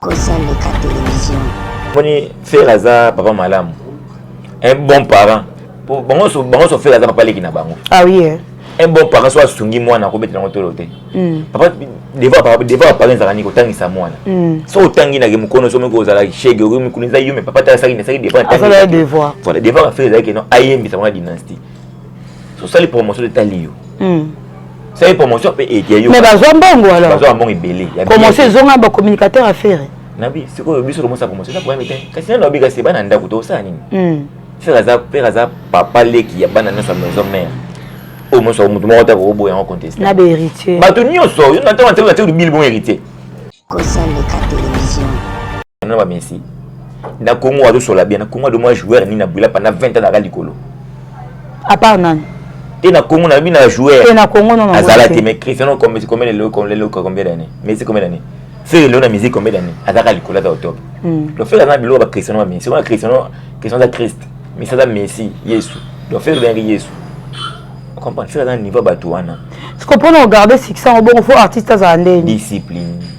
kosa leka television moni fere aza papa malamu un bon parent bango nyonso fere aza papa leki na bango ah oui, eh. un bon parent so asungi mwana akobetela yango tolo te hmm. papa devant apare ezalaka nini kotangisa mwana hmm. so otangi nake mokono somoki ozala shege okoki mikuni eza yume papa te asaki nasaki devant devant afere ezalaki no ayembisa mwana dynastie sosali promotion etali yo hmm. sali promotion mpe eya yo mais bazwa mbongo alors bazwa mbongo ebele promotion ezonga ba communicateur ya fere nabi sikoyo biso tomosa promotion eza problème te kasi nano abika se bana ndako tosala nini hmm. fere aza fere aza papa leki ya bana nyonso ya maison mère oyo moso moto moko te akokoboya yango conteste na ba héritier bato nyonso yo na ntango na ntango na ntango bilibongo héritier kosa leka television na ba messi na congo azosola bien na congo adomwa joueur nini abwila pendant 20 ans naka likolo à part nani te na congo nalobi na joueur te na congo non azala te mais cristiano combien combien de lelo combien de combien d'année messi combien d'année fere lelo na musique combien d'année azaka likolo aza otop hmm. donc fere aza na biloko ba cristiano ba messi wana cristiano cristiano aza christ messi aza messi yesu donc fere oyangaki yesu comprendre soki aza na niveau ya bato wana siko mpona ogarde succès yango bongo fo artiste azala ndeni discipline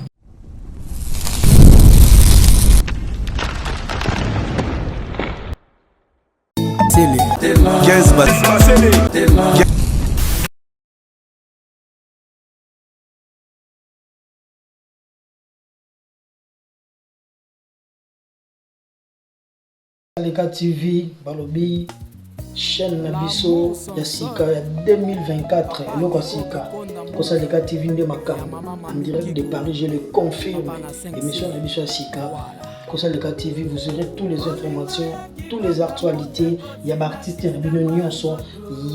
Leka TV balobi chaîne na biso ya sika ya 2024 eloko ya sika kosa Leka TV nde makambo en direct de Paris je le confirme émission na biso ya sika kosa Leka TV vous aurez toutes les informations toutes les actualités ya baartiste na bino nyonso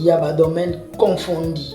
ya badomaine confondi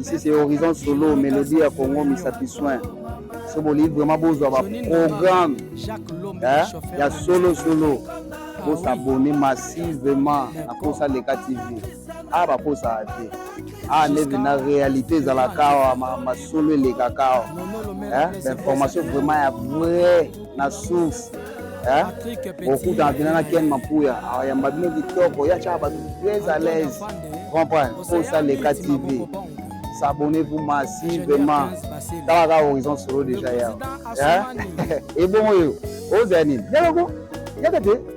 ici c'est horizon solo melodie ya congo misapi soin so bolingi vraiment bozwa baprogramme eh, ya solo solo bosabone massivement na posa leka tv a ah, baposaka te a ah, neve na réalité ezalaka awa masolo elekaka awa eh, bainformation vraiment ya vrai na souffle eh? okutana mpena na ken mapuya ayamba bino kitoko ya tyaka bato très à l'aise comprendre posa leka tv s'abonner vous masi vraiment tala kaka horizon solo déjà ya ebongo yo ozala nini yaloko yaka te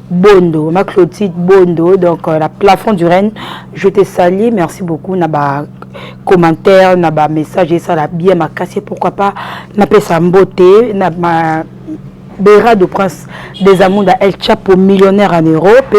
Bondo, ma Clotide Bondo, donc euh, la plafond du Rennes, je te salue, merci beaucoup na ba commentaires, na ba messages, et ça la bien ma casse, pourquoi pas, na pesa mbote, na ma Bera de Prince des Amours da El Chapo millionnaire en Europe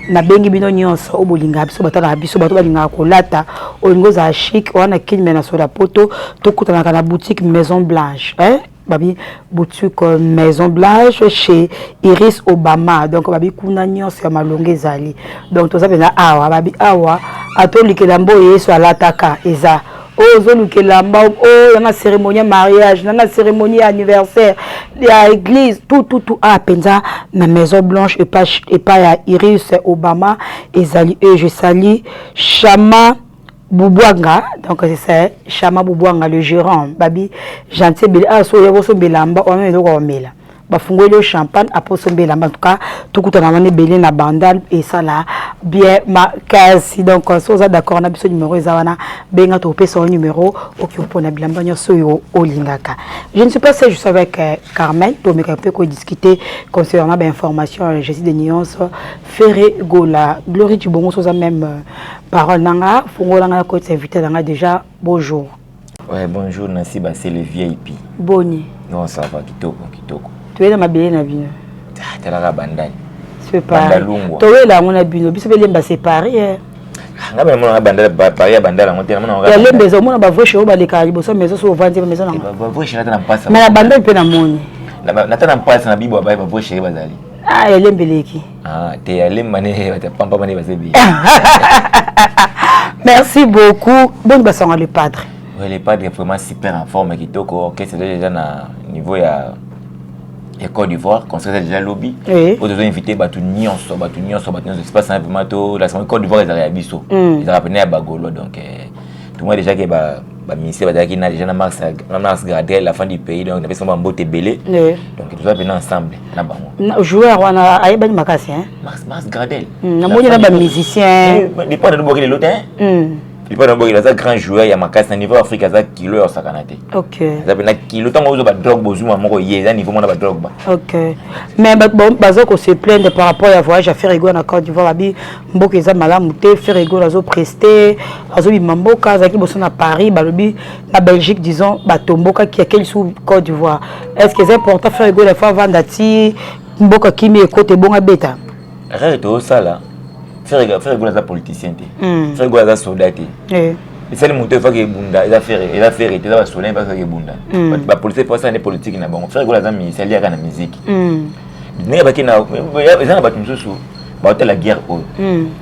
na bengi bino nyonso o bolinga biso batala na biso bato balingaka kolata olingo za chic wana kin me na soda poto tokutanaka na boutique Maison Blanche hein? babi boutique maison blanche chez iris obama donc babi kuna nyonso ya malonga ezali donc toza mpenza awa babi awa atolikela mbo yesu alataka eza oyo ozoluka elamba oyo yanga cérémonie ya mariage nanga cérémonie ya anniversaire ya église tututu a ah, mpenza na maison blanche epai ya iris obama ezali e je sali chama Bubuanga, donc c'est Chama Bubuanga, le gérant, babi gentil bele a ah, so yako so belamba o melo ko mela. Ba fungoli yo champagne apo so belamba en tout cas tukuta na mane belé na bandal et ça là bien ma case donc euh, so za d'accord na biso numéro eza wana benga to pesa au numéro oki po na bilamba nyoso yo olingaka. Je ne suis pas seul, je suis avec euh, Carmen, to me ko discuter concernant ba information euh, je suis de nuance Ferre Gola, Glory Djibongo, ça même euh, parole nanga, fongo langa ko t'inviter langa déjà bonjour. Ouais, bonjour Nancy ba c'est le VIP. Boni. Non, ça va kitoko kitoko. Tu es dans ma belle na bino. Ah, t'es là bandai. C'est pas. Tu es là mon abino, biso belemba séparé. Hein. nga bana mona bandala pari ya bandala yango te ya lembe eza omona bavreshe oyo balekaka liboso maison so ovandi ba maison nango eh, bavreshe nata na mpasa mais na bandali mpe namoni nata na mpasa na bibo abaye bavreshe ye bazali ah elembe leki ah te alemba ne bata pampa bane bazebi merci beaucoup boni basanga le padre ouais le padre vraiment super en forme kitoko orchestre déjà na niveau ya ya Côte d'Ivoire concert déjà lobi oui. oyo tozo invité bato nyonso bato nyonso bato nyonso espace na vraiment to la Côte d'Ivoire ezalaka ya biso mm. ezalaka pene ya bagolo donc eh, tomoi déjà ke ba baministre bazalaki na déjà na mars na mars gradel la fin du pays donc napesi bango bambote ebele donc toza mpena ensemble na bango joueur wana ayebani makasi mars mars gradel hmm, namoni na bamusicien depart nabokeli lelo te lipa na bokeli aza grand joueur ya makasi na niveau ya afrique aza kilo ya osakana te aza mpena kilo ntango ozwa badrogue bozuma moko ye eza niveau mona badrogue ba ok mais baza ko se plaindre par rapport ya voyage ya ferrigo na côte d'ivoire babi mboka eza malamu te frère egol azo preste azobima mboka azalaki boso na paris balobi na belgique disons batombokaki ake lisusu côte d'ivoire est ce que eza important frère egol afo avanda ti mboka kimi ekota ebonga beta rere toosala frère egol aza politicien te hmm. frère egol aza soda te eh. esali moto efaki ebunda eza fere eza fere te eza basoda mpe efaki ebunda hmm. bapolisi mpo asala nde politike na bango frère egol aza mizali yaka na miziki hmm. ndenge baki na eza na bato mosusu baotala guerre oyo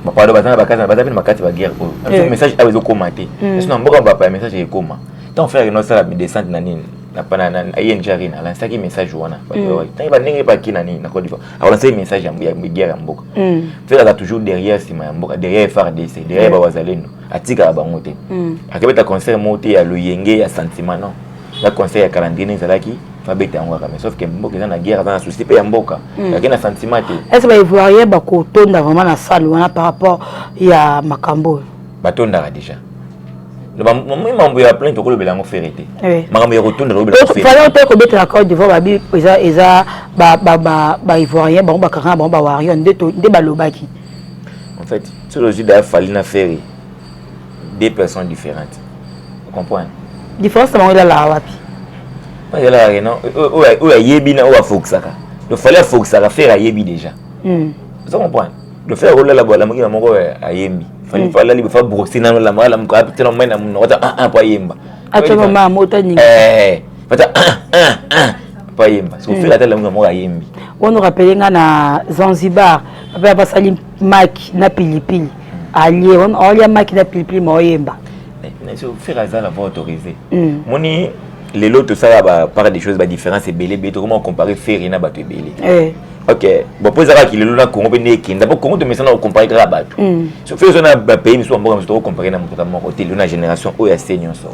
bapado baza na bakasi baza bino bakati baguerre oyo eh. message awa ezokoma te hmm. biso na mboka bapa ya message ekoma ntango frere no asala midescente na nini eng arena alansaki message wana hmm. ntango bandenge baki na nini na cote divoire akolansaki message ya guerre ya mboka hmm. frere aza toujours derrière nsima ya mboka derrière frdc derrière bawazalendo atikaka bango te akebeta concert moko te ya loyenge ya sentiment non na conseil ya kala ndenge ezalaki babeta yango kaka mais sauf que mboka eza na guerre aza na souci mpe ya mboka hmm. ake na sentiment te est ce baivoirien bakotonda vraiment na salle wana par rapport ya makambo oyo batondaka déjà mambo ya plainte okolobela yango fere te eh. makambo ya kotonda tolobelafale te kobetela code divoir babi eza eza baivoirien bango bakaka na bango bawarion nde balobaki en fait soki ozwi daya fali na fere deux personnes différentes vous comprenez différence na bango elalaka wapi elalaka ke non oyo ayebi na oyo afokisaka donc fallait afokisaka fere ayebi déjà hmm. oza comprendre donc fere akolala boala mokina moko ayembi fallait hmm. alali bofa brosse nano lamaka lamuka apitela mai na monoko ata un un po ayemba atoma ma moto aninga eh, ata un un un po ayemba soki hmm. fere ata lamuka moko ayembi ono rapele nga na zanzibar papa basali maki na pilipili alie olia maki na pilipili ma oyemba faire aza na voix autorisée hmm. moni lelo tosala ba part des choses ba différence ebele ebele tokoma comparer ferre na bato ebele eh. ok bon mpo ezalaka kilelo na congo mpe nde ekenda mpo congo tomesana kocompare kaka bato hmm. so fe oza na bapays misusu bamboka mosusu tokocompare na motuka moko te lelo na génération oyo ya se nyonso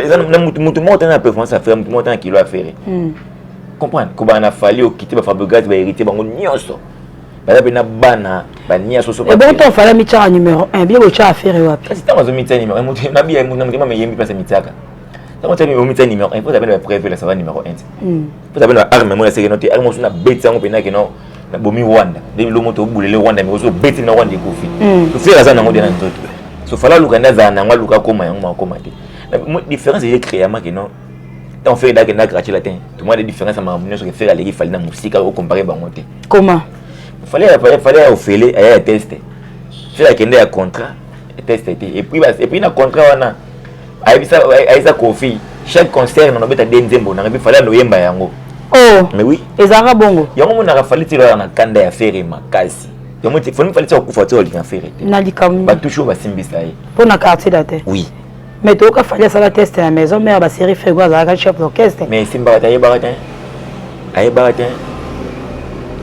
eza na motu moko tana na performance ya ferre motu moko tana kilo ya ferre hmm. comprendre kobana na fali okite bafabrigate baheritier bango nyonso baza mpe na bana bania soso ebongo to fala mitiaka numero 1 bie botya affaire wapi kasi ntango azomitya numero mabiya moto na motema meyembi mpasi amityaka ntango otya omitya numero 1 mpo ozabena bapreve lasava numero 1 te mpo ozabena baarme moko yasekeno te arme mosusu nabeti yango mpenza keno nabomi rwanda nde bilo moto obulele rwanda mikosi obeti na rwanda ekufi hmm. tofela aza nango te na nzoto so fala aluka nde azala nango aluka akoma yango makoma te différence eye créama keno tant fere dake na gratie la te tout moi de différence ma makambo nyonso ke fere aleki fali na mosika o comparer bango te comment fali fali ya ofele aya ya teste fere akende ya contrat teste te et puis et puis na contrat wana ayebisa ayisa kofi chaque concert na nobeta de nzembo na ngebi fali anoyemba yango oh mais oui ezalaka bongo yango monaka fali ti loyaka na kanda ya fere makasi yango ti foni fali ti akufa ti olinga fere te na likambo batushe oyo basimbisa ye mpo na quartier latin oui mais toyoka fali asala teste na maison mare baserie frego azalaka chef d'orchestre mais esimbaka te ayebaka te ayebaka te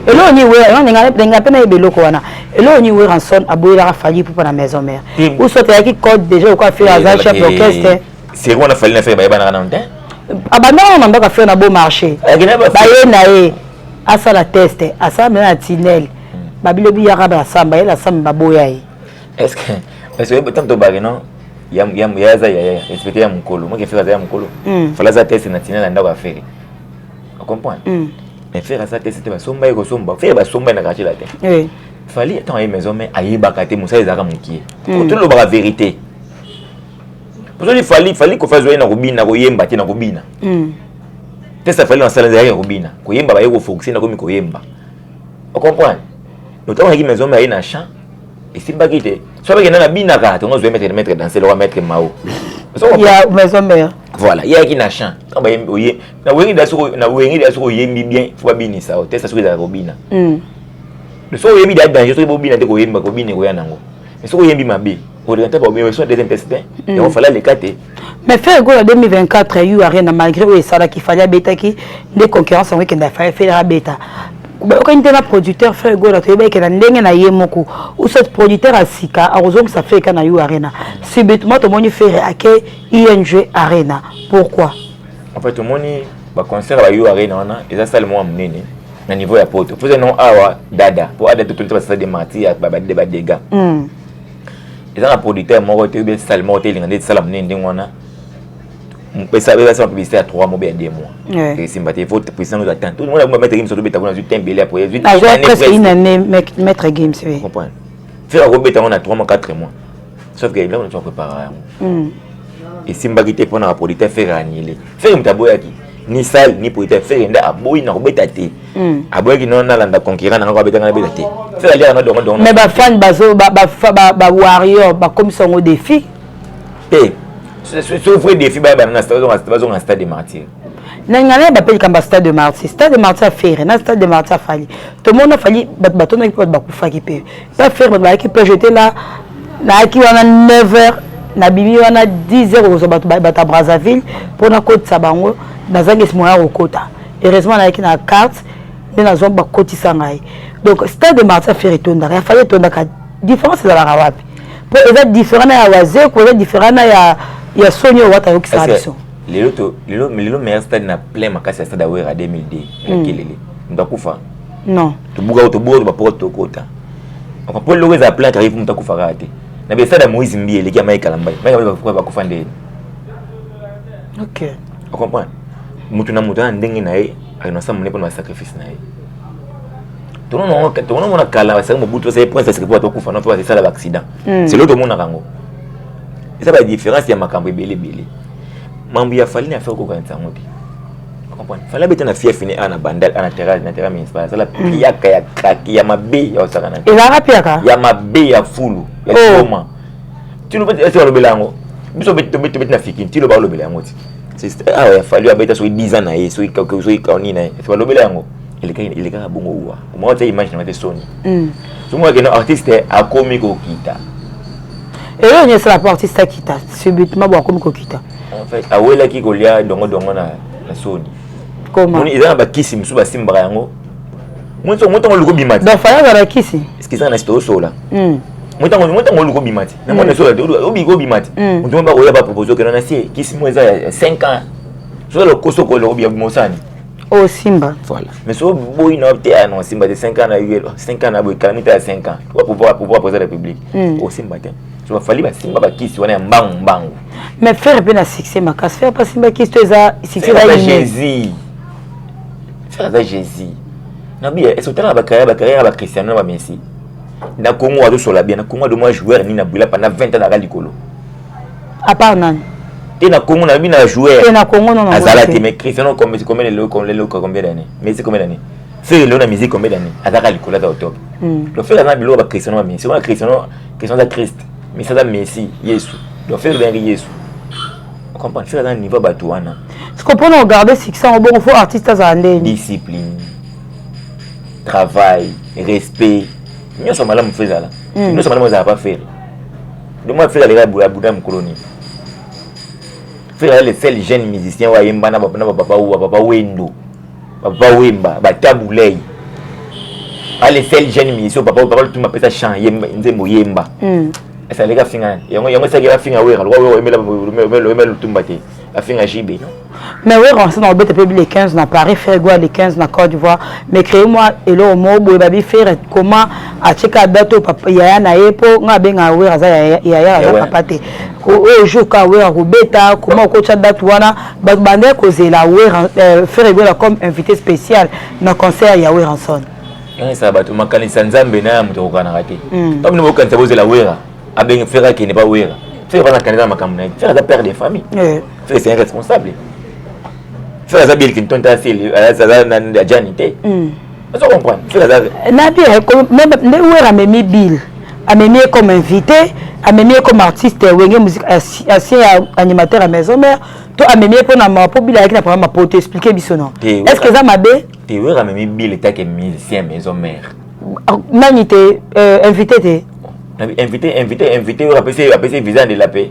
eloko ni wera ndenge mpe nayeba eloko wana eloko ni weranson aboyelaka fali pupa na maison mare ou soit ayaki code déjà okoa fere aza chef d'orchestre seri wana fali na fere bayebanaka nano te abandaka na mbaka fere na beau marché baye na ye asala teste asala mena na tinel babilo biyaka basamba ye na samba baboya ye est ce que est ce que tanto bake non ya ya ya za ya ya respecter ya mukolo moi kefira za ya mukolo mm. fala za test na tina na ndako afere o comprendre mm. mais fere za test te basomba ye kosomba fere basomba na quartier latin oui. fali ntango aye maison mais ayebaka te mosala ezalaka mokie mm. tolobaka verité posoni fali fali kofi azwa ye na kobina koyemba te na kobina mm. test afali na sala ezalaki ya kobina koyemba baye kofokuse nakomi koyemba o comprendre ntango ayaki maison mais aye na champ esimbaki te soki bakenda na binaka tongo ozwa maître maître danse lokola maître mao ya maison mère voilà yaki na chant oye na wenge da soko na wenge da soko oyembi bien faut babinisa yo testa soki ezalaka kobina hmm. soki oyembi da danger soki bobina te koyemba kobina ekoya nango mais soki oyembi mabe oleka nte baobeso deuxième test te yango fala leka te mais ferre gola 2024 yu arena malgré oyo esalaki fali abetaki nde concurrence yango ekenda fali ferre abeta bayokani te na producteur ferre gola toyebi ekenda ndenge na ye moko usot producteur ya sika akozongisa ferre ka na yu arena subitement tomoni ferre ake ing arena pourquoi en fait tomoni baconcert ya yu arena wana eza sale moko ya monene na niveau ya poto poza non awa dada mpo adada totolisa basala de martir ya badede badega eza na producteur moko te bien sale moko te elinga nde esala monene ndenge wana esala publicité ya 3 mois ya 2 mois esimba te faut président oza temps tout le monde akumba maître games tobeta kuna azwi tembe ele apo azwi presque une année maître games oui comprendre fait akobeta yango na 3 mois 4 mois sauf que eloko natu akoprépara yango esimbaki te mpo na bapolitike fere anile fere moto aboyaki ni sale ni politaire fere nde aboyi na kobeta te hmm. aboyaki no nalanda concurrent nanga kobeta ngai nabeta te fere aliaka na dongo dongo mais bafani bazo bawarrior bakomisa yango défi te so vrai défi bayabana bazonga stade de martyr nalinga naye bape likambo ya stade de martyr stade de martyr ya fere na stade de martyr afali tomona afali bato batondaki mpe bato bakufaki mpe Pas ferme bazalaki pe j'étais là nayaki wana 9 heures nabimi wana 10 heures okozwa bato bato ya Brazzaville mpo nakotisa bango nazangisi moyen ya kokota heureusement nayaki na carte nde nazwa bakotisa ngai donc stade de martin fer etondaka ya fali etondaka différence ezalaka wapi mpo eza différent na ya wazeko eza différent na ya ya soni oyo wata ayokisaka biso lelo meilleur stade na plein makasi ya stade ya wera 2002 makelele moto akufa non tobuka oyo tobuka oyo bapoko tokota mpo eloko eza plan kaka ifu moto akufaka te na besada moïse mbi eleki ya mai kalambai mai kalambai bakufa nde ok ocomprendre moto na moto ana ndenge na ye alinasa mone mpo na basacrifice na ye tonomona kala basaki mobutu basaki prince asiki mpo batokufa no mpo basala baaccident hmm. selo tomonaka yango eza badifference ya makambo ebele ebele mambo ya fali na affaire kokanisa yango te comprendre fallait beta na fief ni ana bandal ana terrain na terrain municipal sala mm. piaka ya kaki ya mabe ya osaka na ezalaka piaka ya mabe ya fulu ya oh. koma tino beta ese balobela yango biso beta beta beta na fikin tino balobela yango ti c'est ah ya fallu abeta soki 10 ans na ye soki kaka soki kaoni na ye ese balobela yango elekaka elekaka bongo uwa omoko te image na mate soni mm. somo akende artiste akomi kokita eyo nyesala po artiste akita subitement bo akomi kokita en fait awelaki kolia dongo dongo na na soni comment eza na bakisi mosusu basimbaka yango moto ntango oluki obima te donc fayaka na kisi eske eza na site osola motango hmm. motango oluki obima te na mwana esola te obiki obima te hmm. moto mo bakoya bapropose okenda na sie kisi mo eza ya 5 ans soki lokoso okolo obia mosani osimba oh, voilà mais so boyi na te ya ah, non simba te 5 ans na yo 5 ans na boyi kala mita ya 5 ans pouvoir pouvoir président de la république osimba hmm. te so bafali basimba bakisi wana ya mbangu mbangu mais ferre mpe na succès makasi ferre mpe asimba kisto eza succès eza jésus ferre aza jésus nabi est ce otalaka bacarrière bacarrière ya bacristiano na bamessi na congo azosola bien na congo adomwa joueur nini na bwila panda 20 ans naka likolo à part nani te na congo nayebi na joueur azala te mais cristiano combien lelo combien d'année messi combien d'année Ferre leo na musique combien d'années azaka likolo aza otobe hmm. donc Ferre aza na biloko ba Cristiano ba Messi wana Cristiano Cristiano aza Christ Messi aza Messi Yesu donc Ferre bengi Yesu comprendre Ferre aza na niveau bato wana siko mpo na ogarde succès yango bongo fo artiste azala ndeni discipline travail respect nyonso malamu fo ezala hmm. nyonso malamu ezala pa Ferre donc moi Ferre aleka abuda mokolo nini Ferre aza le seul jeune musicien oyo ayemba na bapapa wendo papa wemba batabu lei ale sel jeune miso papa papa lutuma pesa chant yemba nzembo yemba mm. esa leka finga yango yango esa leka finga wera lwa wera emela emela emela lutumba te afinga jibe non mais wera on s'en obete pe le 15 na Paris faire quoi le 15 na Côte d'Ivoire mais créer moi et le mo boye ba bi faire comment a cheka date papa yaya na ye po nga benga wera za yaya ya papa te ko oyo jour ka wera ko beta comment ko cha date wana Bato bandaki kozela Werra- eh, Ferre Gola comme invité spécial na concert ya Werrason. yangisa bato makanisi ya nzambe na ya moto ekokanaka te Mm. ntango bino bokanisa bozela wera abenge fere akende ba wera fere bana kanisa na makambo na ye fere aza père de famille Eh, fere c'est un responsable fere aza bill clinton te asi- aza na ajani te mm. Est-ce que vous comprenez Nabi, nde Ouer amemi Bill, amemi comme invité, amemi comme artiste, Wenge musique, ancien animateur à maison mère, to amemi pour na ma pour Bill avec na programme pour t'expliquer biso non. Est-ce que ça m'a bé Te Ouer amemi Bill était que musicien maison mère. Ah, Nani te euh, invité te Invité, invité, invité, Ouer apesi apesi visa de la paix.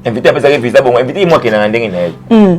Invité apesi visa bon, invité moi qui na ndenge na ye. Hmm.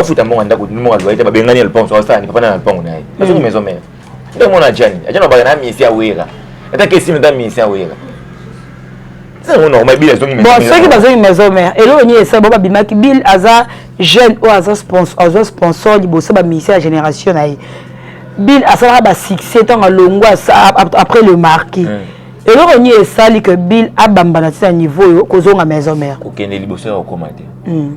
afuta mbongo ya ndako mbongo ya loyer te babengani ya lopango asala nini papa na lopango na ye azongi maison mère nde mona ajani ajani abaka na misi ya wera ata kesimi ata misi ya wera bon soki bazongi maison mère eloko nini esala bo babimaki bill aza jeune oyo aza sponsor azwa sponsor liboso baministre ya génération na ye bill asalaka basuccès ntango alongwa après le marquis hmm. eloko nini esali que bill abambana ti na niveau oyo kozonga maison mère kokende liboso ya kokoma te hmm.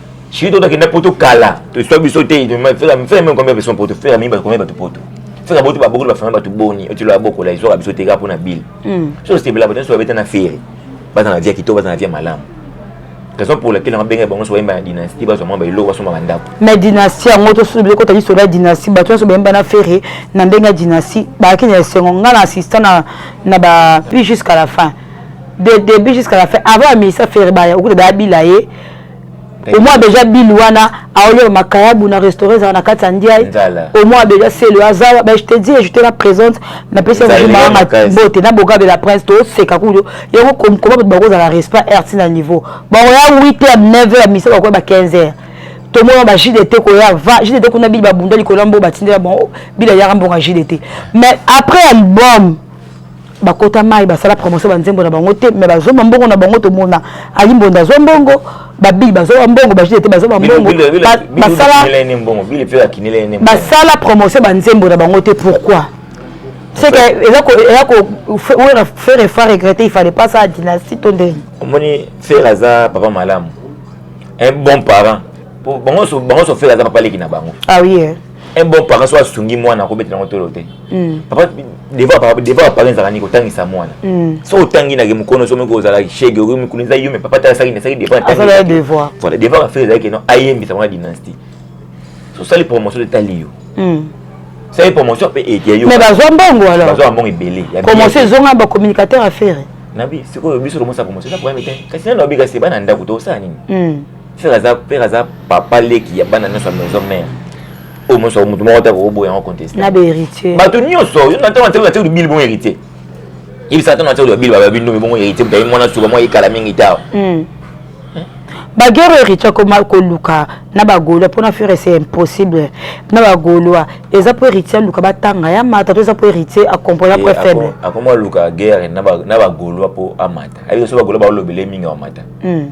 Suis toi qui n'a pas tout cala. Tu sois biso te, tu m'as fait la faire même combien de personnes pour te faire même combien de tout poteau. Faire la botte ba beaucoup de faire ba tout boni, tu la beaucoup là, ils ont biso te ga pour na bill. Hmm. So c'était là, peut-être soit bête na faire. Ba na vie qui to ba na vie malam. raison pour laquelle nga benga bango so yemba na dynastie ba zoma ba ilo ba soma bandako mais dynastie yango to sulu biloko tali so la dynastie ba to so yemba na ferre na benga dynastie ba ki na sengo nga na assistant na na ba puis jusqu'à la fin de début jusqu'à la fin avant amisa ferre ba ya okuta ba bila ye omwa beja bilu wana aolia makayabu na restaurant ezala na kati ya ndiaye omwa beja selo azawa ba je te dis je te la présente na pesi yango maanga bote na bogabe la prince to seka kudo yango comme comment bato bakozala respect RT na niveau bakoya 8h 9h misa bakoya ba 15h tomona ba JDT koya va JDT kuna bili babunda likolo mbo batindela bon bila yaka mbonga JDT mais après album bakota mai basala promotion ba nzembo na bango te mais bazwa mbongo na bango tomona ali mbonda azwa mbongo babili bazwa mbongo bajide te bazwa mbongo basala promotion ba nzembo na bango te pourquoi c'est que eza ko eza ko wera faire et faire regretter il fallait pas ça dynastie to ndenge omoni faire aza papa malamu un bon parent bango so bango so faire aza papa leki na bango ah oui eh. un bon parent soit sungi mwana ko betela ngotolo te hmm. papa devant papa devant papa nzaka ni ko tangisa mwana hmm. so otangi na ke mukono so meko zala shege ko mikuni za yume papa tala saki na saki devant tangisa azala devoir voilà devant affaire zaki non ayembi sa mwana dynastie so sali promotion de taliyo hmm. sali promotion pe et yayo mais bazwa mbongo alors bazwa mbongo ebele promotion ezonga ba communicateur affaire nabi sikoyo biso lomosa promotion na problème te kasi nano abika se bana ndako to sa nini Père aza père aza papa leki ya bana nyoso maison mère. Oyo oh, moso mutu moko te akoboya yango contester. Na ba héritier. Bato nyoso yo na ntango na ntango na ntango bili bon héritier. Yebisa ntango na ntango bili ba bino bongo héritier mutaye mwana suba mwa ekala mingi tawa. Hmm. bagero héritier akoma koluka na bagolois mpo na fere c'est impossible na bagolois eza mpo héritier aluka batanga ya mata to eza mpo héritier acomprena mpo faible akoma aluka guerre na bagolois mpo amata ayebi so bagolois baolobele mingi amata hmm.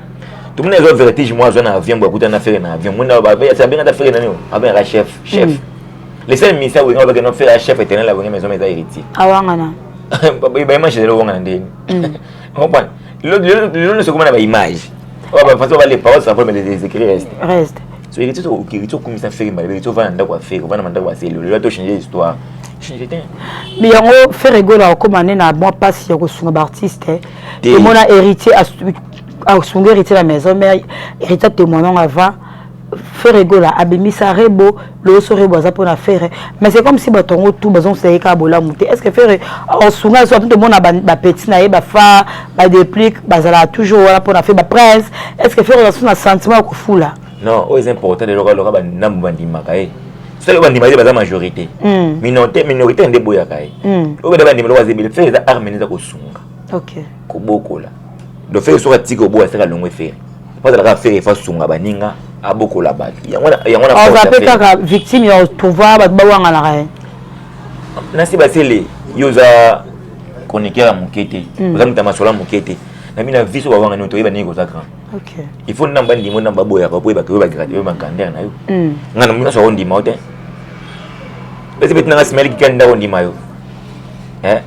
tomoni azwa vertige moko azwa na avion boye akutana na fere na avion moni abenga ta fere nani oyo abengaka chef chef mm. le seul ministère wenge abaki no fere chef éternel ya wenge maison eza héritier awangana baimage ezali owangana ndeni comprendre lelo nyonso ekoma na baimage oyo bafaso bale parole sa problème les écrits reste reste so héritier héritier okumisa fere mbala héritier ovanda ndako ya fere ovanda mandako ya selo lelo to changer histoire mais yango fere egola okoma nde na mwa mpasi ya kosunga baartiste te omona héritier asunga héritier na maison mère héritier témoignant avant ferre egola abimisa rebo loyoso rebo aza mpona ferre mais c'est comme si bato yango tout bazongisa ye kaka bolamu te est ce que ferre osunga yeso ato tomona bapeti na ye bafa badeplique bazalaka toujours wana mpona fe baprince est ce que ferre ozasu na sentiment ya kofula non oyo eza important eloko aloka banambu bandimaka ye soki bandima ye baza majorité hmm. minorité minorité nde eboyaka ye hmm. oyo banda bandima eloko aza ebele ferre eza arme nde eza kosunga okay. kobokola donc fere soki atiki oboya fere alongwe fere po azalaka fere efa sunga baninga abokola bato yango aza mpe kaka victime ya otrouva bato bawanganaka ye nasi basele yo oza chroniqueur ya moke te hmm. oza moto ya masolo ya moke te na bino viso bawanga nini toyeba nini koza grand il faut namba ndimo na baboyaka po oyebaka oyebagrade oyo bankander na yo hmm. ngai na nyonso akondima yo te esi beti nanga simaeli kikani nde akondima yo eh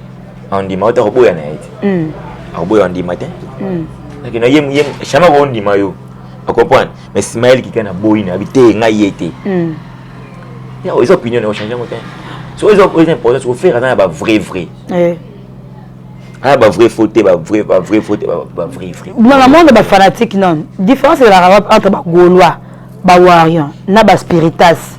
andima ota koboya na ye te hmm. akoboya andima te hmm. akenda ye ye shama ko ndima yo okomprendre mais simael kika na boyi na bi te ngai ye te hmm. ya eza opinion na ochange yango te so eza eza importance ofere aza na ba vrai vrai eh. aya ba vrai faute ba vrai ba vrai faute ba vrai vrai mama monde ba fanatique non différence ezalaka wapi entre ba gaulois ba warrior na ba spiritas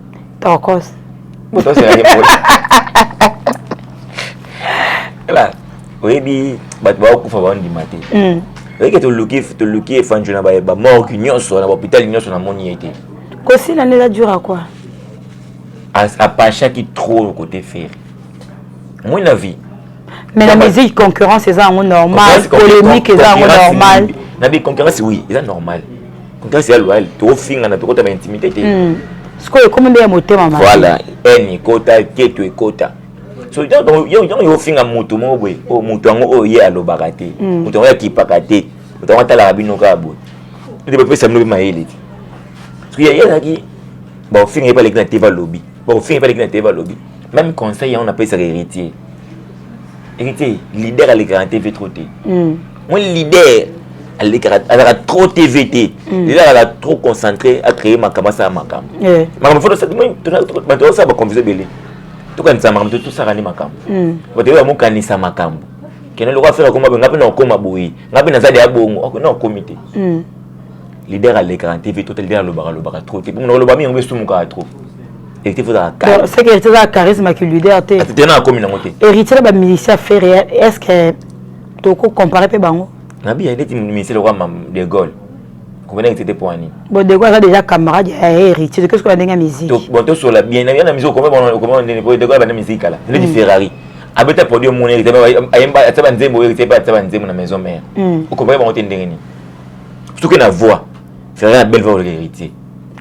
Tokos. Tokos ya ngepo. Ela, oyebi bato baokufa baondima te. Hmm. Oyebi toluki toluki efanjo na ba morgue nyonso na hôpital nyonso namoni ye te. Kosila nde eza dur à quoi? Apashaki trop côté ferre. Moi na vie. Mais la musique concurrence eza yango normal, polémique eza yango normal. Na bi concurrence oui, eza normal. Grace ya loyal tokofingana tokota ba intimité te hmm. sikoyo ekomi nde ya motema mabe voilà haine ekota keto ekota so ntango yo ofinga moto moko boye oyo oh, moto yango oyo oh, ye alobaka te hmm. moto yango akipaka te moto yango atalaka bino kaka boye ete bapesa bino mpe mayele te soki ye azalaki bakofinga ye baleki na te balobi bakofinga ye baleki na te balobi même conseil yango napesaka héritier héritier leader alekaka na tv trop te hmm. moi leader alekaka azalaka trop tv te mm. lelo azalaka trop concentré acree makambo asala makambo eh. makambo fo bato osala baconfuse ebele tokanisa makambo to tosaka nde makambo mm. bato oyo bamokanisa makambo kende loko afere akoma boye ngai mpe nakokoma boye ngai mpe naza deya bongo ok nakokomi te mm. leader alekaka na tv total leader alobaka alobaka trop te bongo nakoloba mingi yango esumukaka trop héritier faut azala calme c'est que héritier azala charisme que leader te te na akomi nango te héritier na ba musicien ferre est ce que toko comparer mpe bango na biya ndeti ministre lokwa de Gaulle comprenez que c'était pour ani bon de Gaulle aza déjà camarade ya héritier qu'est-ce que la ndenge musique bon to sola bien na na musique comment on comment on dit de Gaulle bana musique là ndeti mm. Ferrari abeta produit mon héritier ayemba ataba nzembo héritier pa ataba nzembo na maison mère mm. o comprenez bango te ndenge ni surtout que na voix Ferrari na belle voix héritier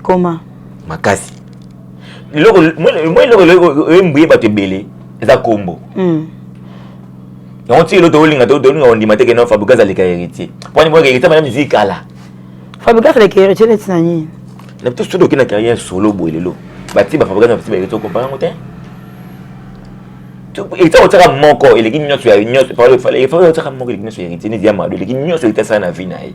comment makasi eloko moi eloko oyembuye bato ebele eza kombo hmm. yango ti eloko tolinga tolinga kondima te kena fabrigas aleka héritier pwani mwa héritier bana miziki kala fabrigas aleka héritier neti na nini na bitu soki okenda carrière solo boye lelo bati bafabrigas na bati baheritier okompa yango te héritier otiaka moko eleki nyonso ya nyonso otiaka moko eleki nyonso ya héritier neti ya mado eleki nyonso héritier asala na vie na ye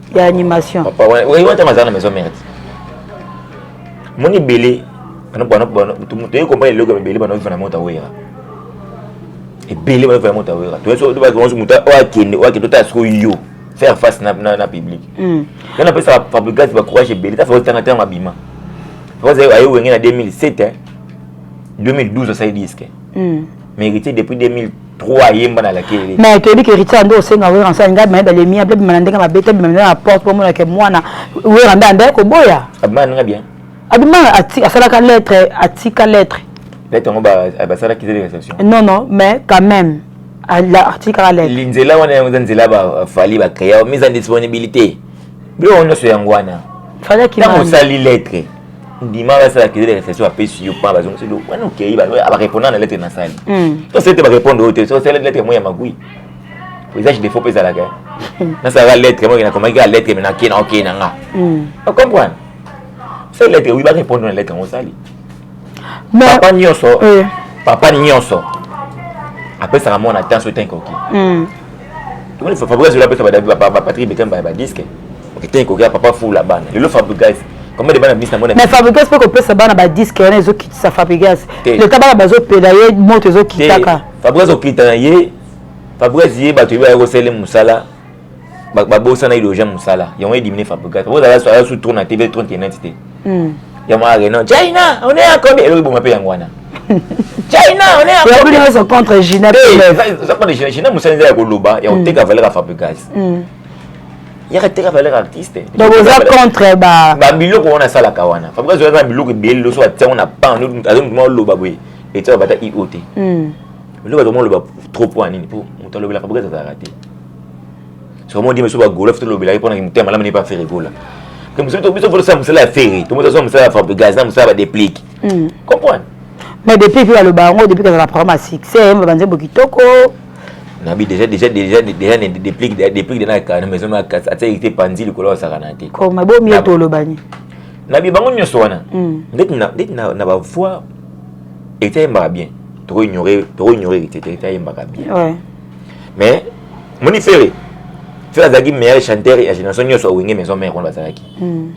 ya animation papa wana oui wana mazana na maison mère moni belé bana bana bana tu mutu yeko mpa eloko belé bana vivre na mota wera et belé bana vivre na mota wera tu so ba ko muta o akende o akende ta so yo faire face na na, na public mm on appelle ça fabricat ba courage belé ta faut tanga tanga bima parce que ayo wengena 2007 hein 2012 ça y disque hmm. mais héritier depuis 2000 trois ayemba na lakeli mais toyebi ke héritier ande osenga wera nsa ngai maye balemi abe bima na ndenge mabe te bima na porte po mona ke mwana wera nda ande koboya abima ndenge bien abima asalaka lettre atika lettre lettre yango basalaki te réception non non mais quand même atikaka lettre linzela wana yango eza nzela bafali bacrea mise en disponibilité biloko nyonso yango wana ntango osali lettre ndima basala accusé de réception apesi yo mpa bazongisi yo wana okei barépondre na lettre nasali to sete barépondre oyo te so osali lettre moi ya magui visage défaut mpe ezalaka nasalaka lettre moi nakomaki kaka lettre me nakei na okei na nga ocomprendre osali lettre oui barépondre na lettre yango osali papa nyonso papa nyonso apesaka mwana temps oyo tanke oki Fabrice Zola apesa ba Patrick Bekemba ba disque okitenge kokea papa fula bana lelo Fabrice combien de bana bisa mona mais Fabrice pe kopesa bana ba disque yana ezokitisa Fabrice leta bana bazopela ye moto ezokitaka Fabrice okita na ye Fabrice ye bato yeba yakosele mosala babosana idogien mosala yango edimine Fabrice Fabrice azala su trop na TV 39 te hmm. ya mwa reno china on est à combien eloki boma mpe yango wana china on est à combien oza contre gina oza contre gina gina mosala eza ya koloba ya koteka hmm. valeur ya fabricas hmm. yaka teka valeur artiste donc oza contre ba babiloko wana asalaka wana fabricas oyaka na biloko ebele loso atiango na pan azomutuma oloba boye etiaka bata io te eloko azomoloba trop mpo ya nini mpo moto alobelaka fabricas azalaka te soki modi biso bagolof tolobelaki mpo na kimotema malamu nde mpe afere gola biso tolosala mosala ya fere tomozasala mosala ya fabrigas na mosala ya badeplic hmm. comprendre mais depuis mpe baloba yango depuis kozala programme ya succès mba banzembo kitoko nabi déjà déjà déjà déjà ne déplique déplique de na kana maison ma kasa ata ite panzi likolo ya sakana te ko ma bomi to lobani nabi bango nyoso wana hmm. ndeti na ndeti na na ba voix était mba bien to ignorer to ignorer était était mba bien ouais mais moni fere fere azalaki meilleur chanteur ya génération nyonso awenge maison mère wana bazalaki hmm.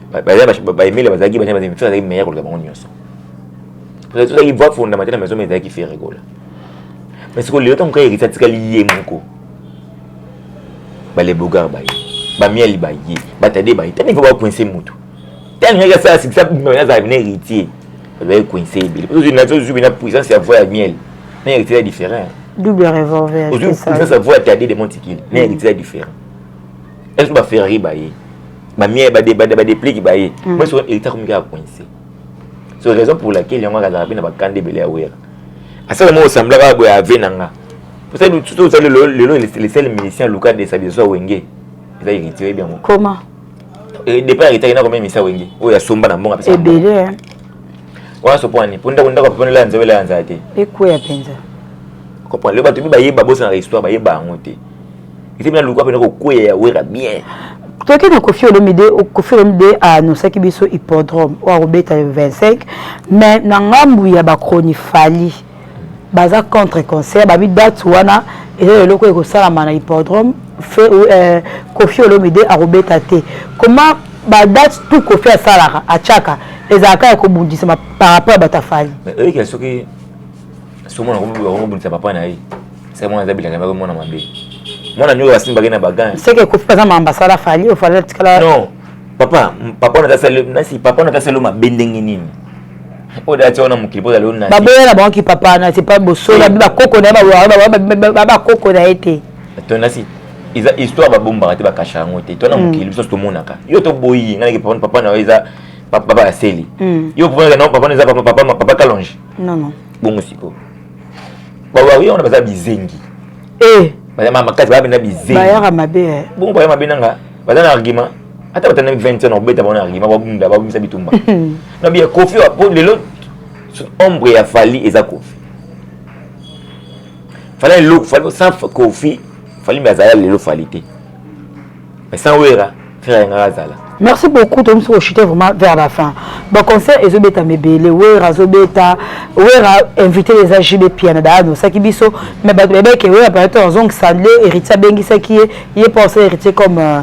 baemele bazalaki fere azalaki meilleur koleka bango nyonso tozalaki voix fondamentale na maison mère ezalaki fere gola mais sikoyo lelo ntango kaka erisa atikali ye moko balebogar baye bamiali baye batade baye tani fo bakoinse motu tani ngaki asala sikisa bima azalaki na héritier bazalaki koinse ebele po tozwi na tozwi bina puissance ya voix ya miel na héritier ya différent double revolver ozwi sasa voix ta de mon tikili na héritier ya différent est-ce que ba ferrari ba ye ba mie ba de ba de plique ba ye mm. moi sur héritier comme gars coincé c'est raison pour laquelle yango akazala pe na ba kande bele ya wera asala mo semblaka ah, boya ave na nga pour ça tout ça le le le le seul musicien Lucas de sa biso wenge eza héritier bien comment eh, depuis aretaki na komemi misa wenge oyo asomba na mbongo apesa ebele wana sopwani mpo ndako ndako aponi la nzela ya nzala te ekweya mpenza kopwani lelo bato mpe bayeba bosanaka histoire bayeba yango te ete mina luka mpena kokweya ya wera bien toyaki na kofi olomide kofi olomide anosaki biso hippodrome oyo akobeta le 25 mais na ngambu ya bacronifali baza contre concert babi date wana eza eloko ekosalama na hippodrome fe euh, kofi olomide akobeta te koma badate tu kofi asalaka atiaka ezalaka ya kobundisama par rapport ya bato afali oyekela soki somona kobundisa papa na ye sai mwana aza bilanga mako mwana mabe mwana nioyo basimbaki na bagan seke kofi baza ma ambasada afali ofali atikala non papa papa na tasalo mabe ndenge nini oyo dati wana mokili mpo ozali onasi baboya na bango kipapa na sepa bosola bi bakoko na ye bakoko na ye te tonasi eza histoire babombaka te bakasha yango te to na mokili biso tomonaka yo toboyi ngai papa papa na yo eza papa ya seli yo papa na papa eza papa papa papa kalonge non non bongo siko bawawi wana baza bizengi eh baza makasi baza benda bizengi bayaka mabe bongo baya mabe nanga baza na argument ata batanda 20 ans obeta bango na argument babunda babimisa bitumba na biya kofi po lelo ombre ya fali eza kofi fali eloko fali sans kofi fali mbe azala lelo fali te mais sans wera frère yanga azala merci beaucoup tomi soki ochute vraiment vers la fin baconcert ezobetama ebele wera azobeta wera invité eza jb piana daa nosaki biso mais bato babeke wera palato azongisa nde héritier abengisaki ye ye mpo asala héritier comme euh,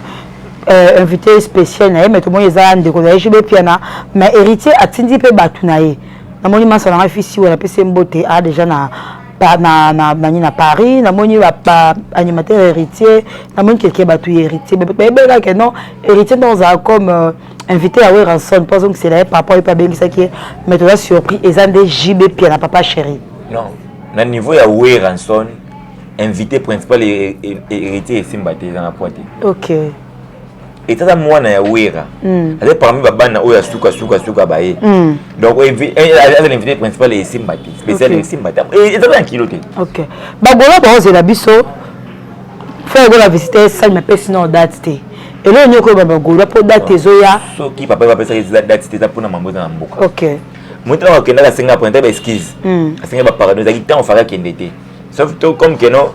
euh, invité spécial na ye mais tomoni eza ndeko na ye jobe piana mais héritier atindi mpe bato na ye namoni masa na ngai fisi wana apesi mbote a déjà na na na nani na paris namoni baanimateur ba héritier namoni kelke bato ya héritier bayebelaka ke non héritier nde ozala comme euh, invité ya weranson mpo azongisela ye papa oyo mpe abengisaki ye mais toza surpris eza nde jb pia na papa chéri non na niveau ya weranson invité principal héritier esimba te eza na poids te ok etata mwana ya wera hmm. aza parmi babana oyo asuka suka suka baye hmm. donc eh, eh, aza na invité principal esimba te spécial esimba te eh, eza na kilo te ok bagola baozela biso fo ekola visite sali mapesi na date te eloko nyonso oyo babagolwa mpo date ezoya soki papa bapesaki eza date te eza mpona mambo eza na mboka ok moto ntango akendaka asenga pona ntai baeskise asenga bapardon ezalaki ntango faka akende te sauf to comme que non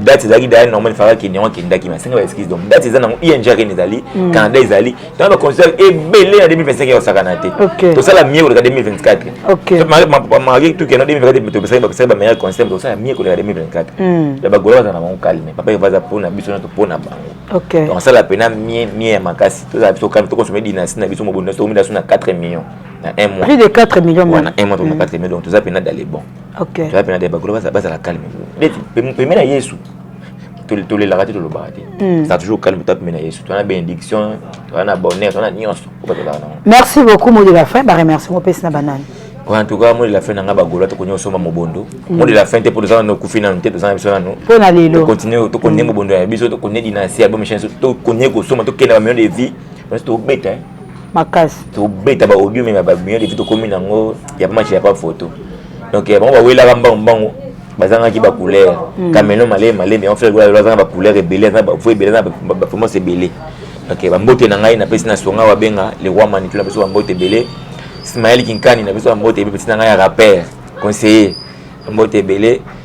date ezalaki daya normal efaka kende yango akendaki mais asenga baexcuse donc date eza nango ing akende ezali mm. canada ezali ntango baconsidere ebele na 2025 yakosakana te tosala mie koleka 2024 mari tukeno 2024 topesaki bapesaki bameilleur conseil tosala mie koleka 2024 mm. ya bagola baza na bango calme papa eva aza mpona biso na topona bango donc asala mpena mie mie ya makasi tozala biso calme tokonsome dynastie na biso mobondo na biso tokomi na biso na 4 millions na un mois prix de 4 millions wana un mois tokoma 4 mm. millions donc toza mpena dans les bons okay. toya mpe na deba golo bazala calme neti peme na yesu tolelaka te tolobaka te hmm. ça toujours calme toya peme na yesu toya na bénédiction toya na bonheur toya na nyonso oyo batolaka nango merci beaucoup mot de la fin baremercie mopesi na banani en tout cas moi de la fin nanga bagola tokonia osomba mobondo hmm. moi de la fin te mpo toza nano okufi nano te toza na biso nano mpo na lelo tokontinue tokonie hmm. mobondo ya biso tokonie dinasi album echange tokonie kosomba tokenda bamillion de vie nyonso tobeta makasi tobeta ba audio meme ba million depuis tokomi nango ya match ya pas photo donc bango bawelaka mbangu mbangu bazangaki ba couleur hmm. camelo male male mais on fait quoi bazanga ba couleur ebele na ba fo ebele na ba formation ebele donc ba mbote na ngai na pesi na songa wa benga le roi manitou na pesi ba mbote ebele Ismaël Kinkani na pesi ba mbote ebele pesi na ngai ya rappeur conseiller mbote ebele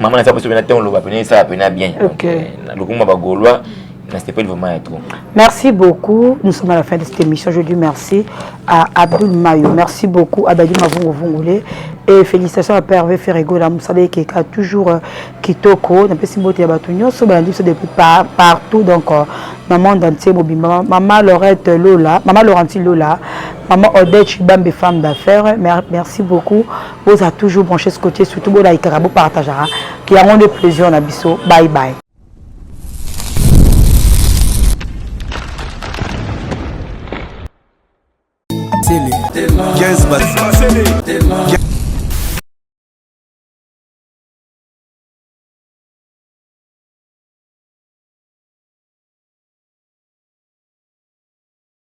mama naza poso pena ntango oloba pena esala pena bien lokumba bagaulois nasepeli vraiment ya trop merci beaucoup nous sommes à la fin de cette émission je dis merci à abdul mayo merci beaucoup abadi mavunguvungule et félicitations à perve ferregola mosala ekeka toujours euh, kitoko napesi mbote ya bato nyonso balandi biso depuis partout donc euh, na monde entier mobimba mama laurette lola mama laurenti lola mama odette chibambe femme d'affaires merci beaucoup Boza toujours branché ce côté surtout bo laikaka bo partageaka ki yango nde plaisir na biso bye bye.